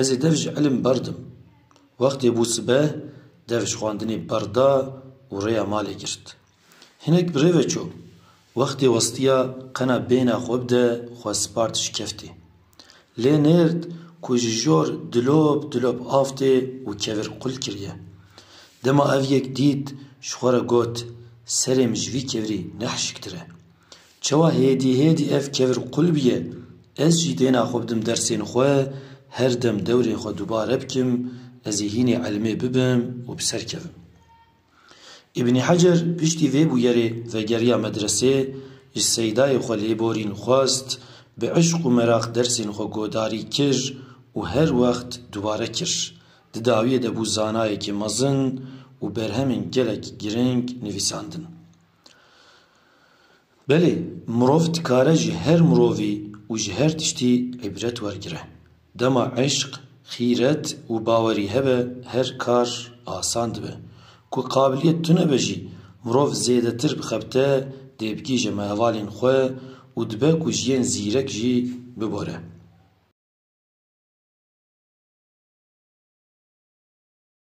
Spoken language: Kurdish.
Ez ê dev ji ilim berdim. Wextê bû sibeh, dev ji xwendinê berda û rêya malê girt. Hinek bi rê ve çû. Wextê westiya qena bêhna xwe bide xwe spart ji keftê. Lê nêrd ku ji jor dilop dilop av tê û kevir qul kiriye. Dema ev yek dît ji xwe re got, Serê min ji vî kevirî ne hişktir e. Çawa hêdî hêdî ev kevir qul bûye, ez jî dêna xwe bidim dersên xwe, her dem dewrê xwe dubare bikim, ez ê hînê elmê bibim û bi ser kevim. Îbnî Hecer piştî vê bûyerê vegeriya medresê, ji seydayê xwe lêborîn xwest, bi îşq û meraq dersên xwe godarî kir û her wext dubare kir. Di dawiyê de bû zanayekî mezin û berhemên gelek giring nivîsandin. Belê, mirov dikare ji her mirovî û ji her tiştî îbret wergire. Dema eşq, xîret û bawerî hebe her kar asan dibe. Ku qabiliyet tune be jî mirov zêdetir bixebite dê bigihîje me hevalên xwe û dibe ku ji yên zîrek jî bibore.